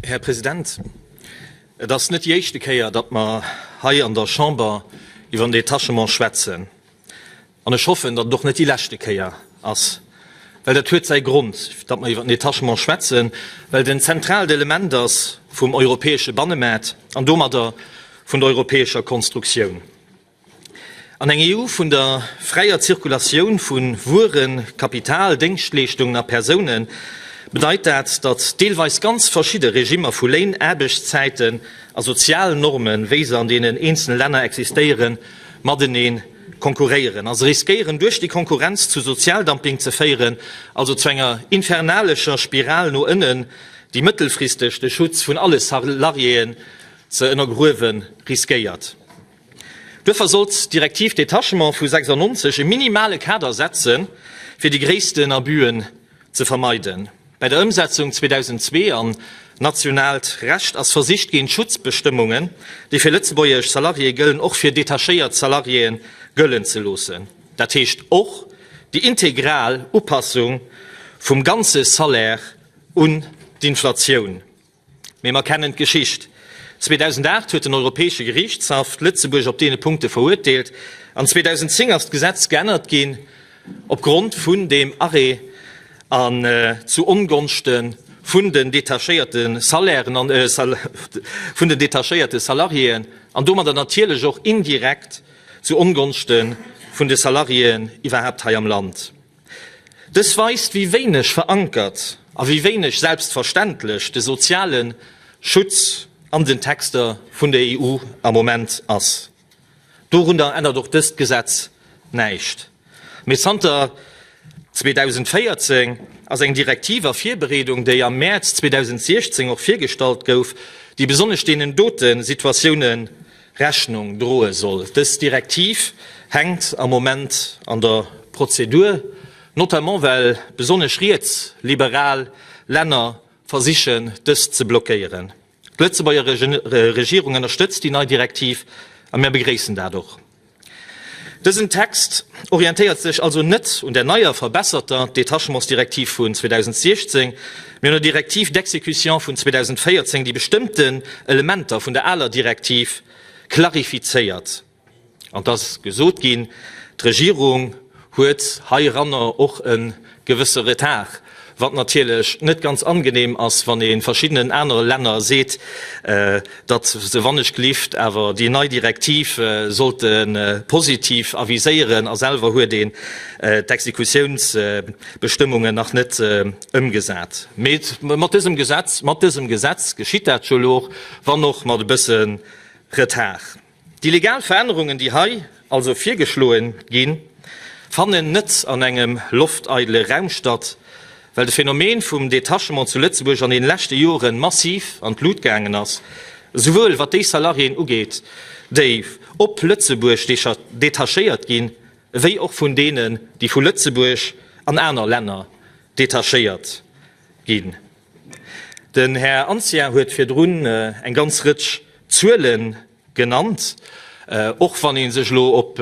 Här President, et ass net déi éischte Kéier, datt mer hei an der Chamber iwwer den Detachement schwätzen. An ech hoffen, datt et och net déi leschte Kéier ass, well dat huet säi Grond, datt mer iwwert den Detachement schwätzen, well et en zentraalt Element ass vum europäesche Bannemaart an domadder vun der europäescher Konstruktioun. An eng EU vun der fräier Zirkulatioun vu Wueren, Kapital, Déngschtleeschtungen a Persoune bedeit dat, datt deelweis ganz verschidde Regimmer vu Léin, Aarbechtszäiten a sozialen Normen, wéi se an deenen eenzele Länner existéieren, matenee konkurréieren a se riskéieren duerch déi Konkurrenz zu Sozialdumping ze féieren, also zu enger infernalescher Spiral no ënnen, déi mëttelfristeg de Schutz vun alle Salariéen ze ënnergruewe riskéiert. Duerfir sollt d'Direktiv Détachement vu 96 e minimale Kader setze fir déi gréissten Abüen ze vermeiden. Bei der Ëmsetzung 2002 an nationaalt Recht ass versicht ginn, d'Schutzbestëmmungen, déi fir lëtzebuergesch Salariéë gëllen, och fir detachéiert Salariéë gëllen ze loossen, dat heescht och déi integral Upassung vum ganze Salaire un d'Inflatioun. Mee mer kennen d'Geschicht. 2008 huet den Europäesche Geriichtshaff d'Lëtzebuerg op deene Punkte verurteelt an 2010 ass d'Gesetz geännert ginn op Grond vun deem Arrêt an zu Ongonschte vun den detachéierte Salairen, vun den detachéierte Salariéen an domadder natierlech och indirekt zu Ongonschte vun de Salariéen iwwerhaapt hei am Land. Dës weist, wéi wéineg verankert a wéi wéineg selbstverständlech de soziale Schutz an den Texter vun der EU am Moment ass. Dorunner ännert och dëst Gesetz näischt. Mee zanter 2014 ass eng Direktiv a Virbereedung, déi am Mäerz 2016 och virgestallt gouf, déi besonnesch deenen dote Situatiounen Rechnung droe soll. Dës Direktiv hänkt am Moment an der Prozedur, notamment well besonnesch rietsliberal Länner versichen, dëst ze blockéieren. D'Lëtzebuerger Regierung ënnerstëtzt déi nei Direktiv a mir begréissen dat och. Dësen Text orientéiert sech also net un der neier, verbesserter Détachements-Direktiv vun 2016, mee un der Directive d'exécution vun 2014, déi bestëmmten Elementer vun der aler Direktiv klarifizéiert. An et ass gesot ginn, d'Regierung huet heiranner och e gewësse Retard, wat natierlech net ganz angenehm ass, wann ee verschiddenen anere Länner seet, datt se wannechgelift awer déi nei Direktiv sollte positiv aviséieren, a selwer huet een d'Exekutiounsbestëmmungen nach net ëmgesat. Mee mat dësem Gesetz, mat dësem Gesetz geschitt dat jo elo, wann och mat e bësse Retard. Déi legal Verännerungen, déi hei also virgeschloe ginn, fannen net an engem lofteidele Raum statt, well de Phänomen vum Detachement zu Lëtzebuerg an deene leschte Jore massiv an d'Lut gaangen ass, esouwuel wat déi Salariéen ugeet, déi op Lëtzebuerg detachéiert ginn, ewéi och vun deenen, déi vu Lëtzebuerg an aner Länner detachéiert ginn. Den Här Anzia huet virdrun eng ganz Rëtsch Zuele genannt. Och wann ee sech elo op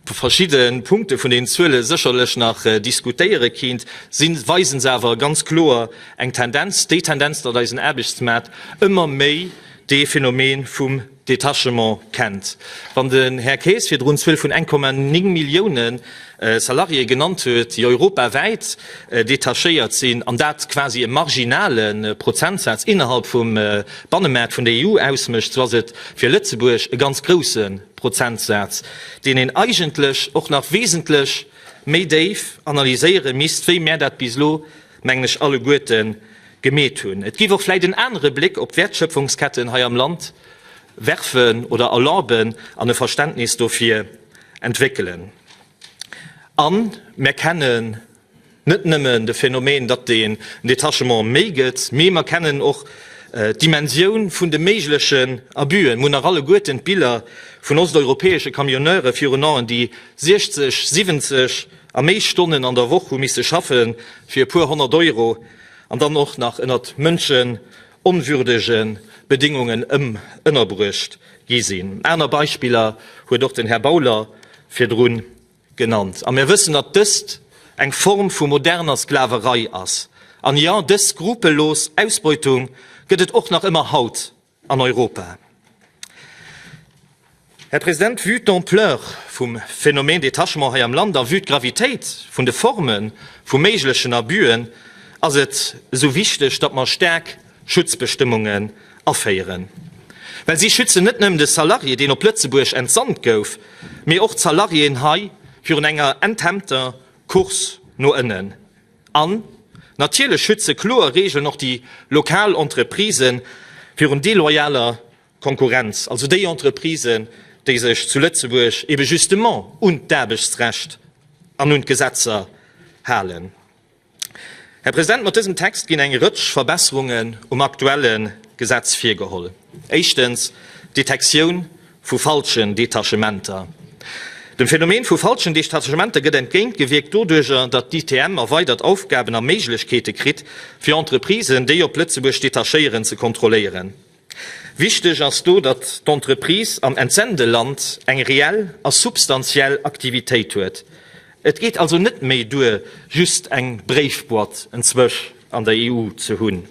verschidde Punkte vun deenen Zuele sécherlech nach diskutéiere kinnt, si weise se awer ganz kloer eng Tendenz, déi Tendenz, datt eisen Aarbechtsmaart ëmmer méi dee Phänomen vum Detachement kennt. Wann den Här Kaes virdrun d'Zuel vun 1,9 Millioune Salariéë genannt huet, déi europawäit detachéiert sinn, an dat quasi e marginale Prozentsaz innerhalb vum Bannemaart vun der EU ausmécht, esou ass et fir Lëtzebuerg e ganz grousse Prozentsaz, deen een eigentlech och nach wesentlech méi déif analyséiere misst, wéi mär dat bis elo mengen ech, alleguerte gemeet hunn. Et géif och vläicht en anere Bléck op d'Wäertschöpfungsketten hei am Land werfen oder erlauben an e Verständnis dofir entwéckelen. A mer kennen net nëmmen de Phänomen, datt den Détachement méi gëtt, mee mer kennen och d'Dimensioun vun de méiglechen Abus'en. Mer hunn nach alleguerten d'Biller vun osteuropäesche Camionneure virun Aen, déi 60, 70, a méi Stonnen an der Woch hu misse schaffe fir e puer honnert Euro an dann och nach ënnert mënschenonwürdege Bedéngungen ënnerbruecht gi sinn. Aner Beispiller huet och den Här Bauler virdru genannt. A mir wëssen, datt dëst eng Form vu moderner Sklaverei ass. An jo, dës skrupellos Ausbeutung gëtt et och nach ëmmer haut an Europa. Här President, vue d'Ampleur vum Phänomène Détachement hei am Land a vue d'Gravitéit vun de Forme vu méiglechen Abus'en ass et esou wichteg, datt mer staark Schutzbestëmmungen aféieren. Well si schützen net nëmmen de Salarié, deen op Lëtzebuerg entsant gouf, mee och d'Salariéen hei virun enger enthemmter Course no ënnen. An natierlech schütze kloer Regeln och déi lokal Entreprisë virun deloyaler Konkurrenz, also déi Entreprisen, déi sech zu Lëtzebuerg ebe justement un d'Aarbechtsrecht an un d'Gesetzer halen. Här President, mat dësem Text ginn eng Rëtsch Verbesserungen um aktuelle Gesetz virgeholl. Éischtens, d'Detektioun vu falschen Detachementer. Dem Phänomen vu falschen Detachementer gëtt entgéint gewierkt doduerjer, datt d'ITM erweidert Aufgaben a Méiglechkeete kritt, fir Entreprisen, déi op Lëtzebuerg detachéieren, ze kontrolléieren. Wichteg ass do, datt d'Entreprise am Entsendeland eng reell a substantiell Aktivitéit huet. Et geet also net méi duer, just eng Bréifboîte enzwech an der EU ze hunn.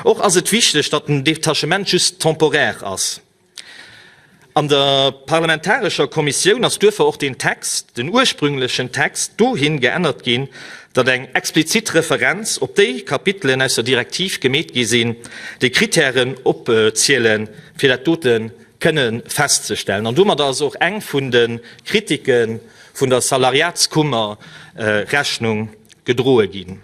Och ass et wichteg, datt den Detachement just temporaire ass. An der parlamentarescher Kommissioun ass duerfir och den Text, den ursprünglechen Text, dohin geännert ginn, datt eng explizit Referenz op déi Kapitelen aus der Direktiv gemeet gi sinn, déi Kritären opzielen, fir dat dote kënne festzestellen. An domadder ass och eng vun de Kritike vun der Salariatskummer Rechnung gedroe ginn.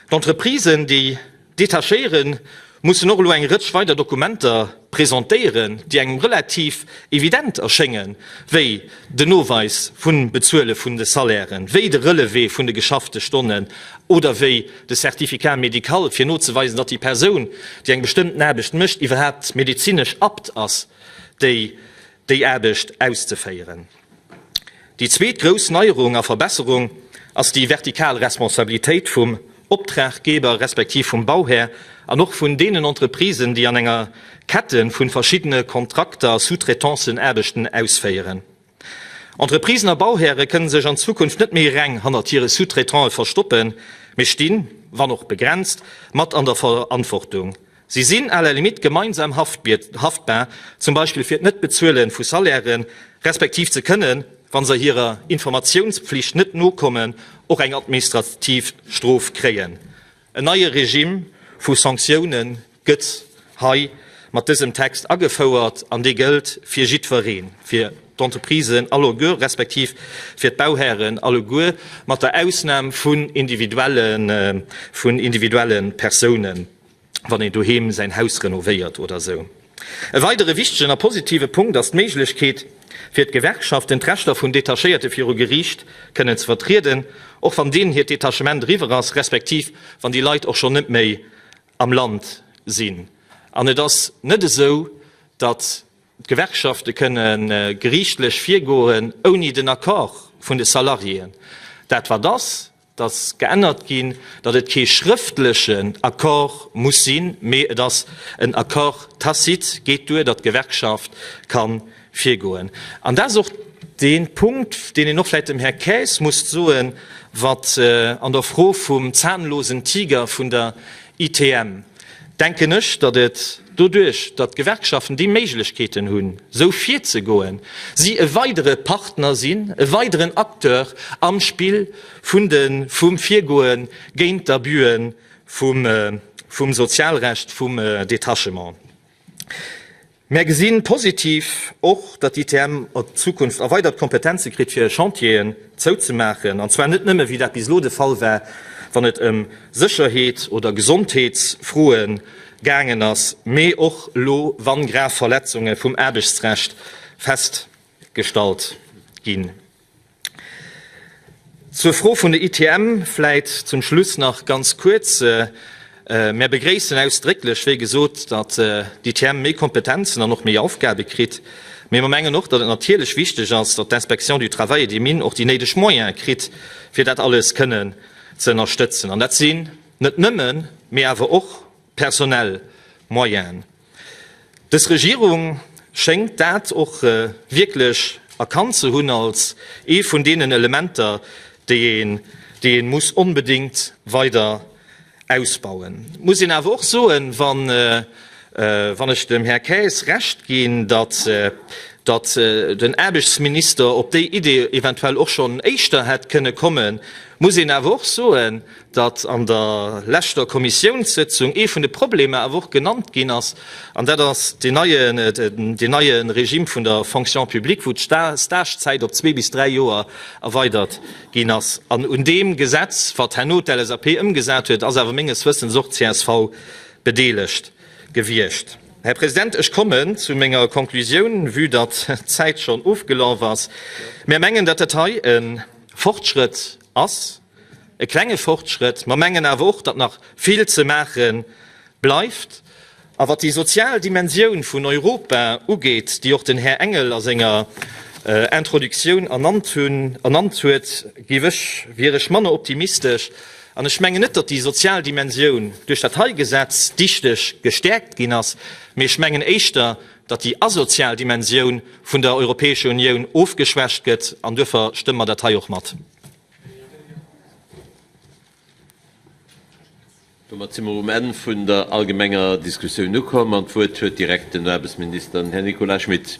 D'Entreprisen, déi detachéieren, mussen och elo eng Rëtsch weider Dokumenter presentéieren, déi engem relativ evident erschéngen, wéi den Noweis vum Bezuele vun de Salairen, wéi de Relevé vun de geschaffte Stonnen oder wéi de Certificat médical, fir nozeweisen, datt déi Persoun, déi eng bestëmmten Aarbecht mécht, iwwerhaapt medezinesch abt ass, déi Aarbecht auszeféieren. Déi zweet grouss Neierung a Verbesserung ass déi vertikal Responsabilitéit vum Optraggeber respektiv vum Bauhär an och vun deenen Entreprisen, déi an enger Kette vu verschiddene Kontrakter, Sous-traitances, Aarbechten ausféieren. Entreprisen a Bauhäre kënne sech an Zukunft net méi reng hannert hire Sous-traitantë verstoppen, mee stinn, wann och begrenzt, mat an der Verantwortung. Si sinn à la limite gemeinsam haftbar, zum Beispill fir d'Net-Bezuele vu Salairen, respektiv ze kënnen, wa se hirer Informatiounspflicht net nokommen, och eng administrativ Strof kréien. En neie Regime vu Sanktioune gëtt hei mat dësem Text agefouert an dee gëllt fir jiddweree, fir d'Entreprisen alleguer, respektiv fir d'Bauhären alleguer, mat der Ausnam vun individuelle Persounen. wann een doheem säin Haus renovéiert oder esou. E weidere wichtegen a positive Punkt ass d'Méiglechkeet fir d'Gewerkschaften, d'Rechter vun Detachéierte viru Geriicht kënnen ze vertrieden, och wann deenen hiert Detachement eriwwer ass, respektiv wann déi Leit och schonn net méi am Land sinn. An et ass net esou, datt d'Gewerkschafte kënne geriichtlech virgoen ouni den Accord vun de Salariéen. Dat wat ass, dass geännert ginn, datt et kee schrëftlechen Accord muss sinn, mee et ass en Accord tacite, geet duer, datt d'Gewerkschaft ka virgoen. An dat ass och dee Punkt, deen een och vläicht dem Här Kaes muss soen, wat an der Fro vum zahnlosen Tiger vun der ITM, denken ech, datt et doduerch, datt d'Gewerkschaften déi Méiglechkeeten hunn, esou virzegoen, si e weidere Partner sinn, e weideren Acteur am Spill vum Virgoe géint d'Abusë vum Sozialrecht, vum Detachement. Mär gesi positiv och, datt d'ITM an Zukunft erweidert Kompetenze kritt, fir Chantieren zouzemaachen, an zwar net nëmme, wéi dat bis elo de Fall war, wann et ëm Sécherheet oder Gesondheetsfroe gaangen ass, mee och elo, wa grav Verletzunge vum Aarbechtsrecht festgestallt ginn. Zur Fro vun de ITM vläit zum Schluss nach ganz kuerz. Mär begréissen ausdrécklech, wéi gesot, datt d'ITM méi Kompetenzen an och méi Aufgabe kritt. Mee mer mengen och, datt et natierlech wichteg ass, datt d'Inspection du Travail et des Mines och déi néideg Moyene kritt, fir dat alles kënnen ze ënnerstëtzen. An dat sinn net nëmmen, mee awer och personell Moyene. Dës Regierung schéngt dat och wierklech erkannt ze hunn als ee vun deenen Elementer, déi een, déi ee muss onbedéngt weider ausbauen. Et muss een awer och soen, wa wann ech dem Här Kaes Recht ginn, datt, datt den Aarbechtsminister op déi Idee eventuell och schonn éischter hätt kënne kommen, muss een awer och soen, datt an der leschter Kommissiounssëtzung ee vun de Problemer awer och genannt ginn ass, an dat ass deen neie Regime vun der Fonction publique, wou d'Stagezäit op zwee bis dräi Joer erweidert ginn ass. An un deem Gesetz, wat herno d'LSAP ëmgesat huet, ass awer menges Wëssens och csv bedeelegt gewiescht. Här President, ech kommen zu menger Konklusioun, vue datt d'Zäit schonn ofgelaf ass. Mär mengen, datt dat hei e Fortschrëtt ass. e klenge Fortschrëtt, mer mengen awer och, datt nach vill ze maache bleift. A wat déi sozial Dimensioun vun Europa ugeet, déi och den Här Engel a senger Introductioun ernannt huet, géif ech, wier ech manner optimistesch. An ech mengen net, datt déi sozial Dimensioun duerch dat hei Gesetz dichteg gestäerkt ginn ass, mee ech mengen éischter, datt déi asozial Dimensioun vun der Europäescher Unioun ofgeschwächt gëtt, an duerfir stëmme mer dat hei och mat. Domat si mer um Enn vun der allgemenger Diskussioun ukomm an d'Wuert huet direkt den Aarbechtsminister, den Här Nicolas Schmit.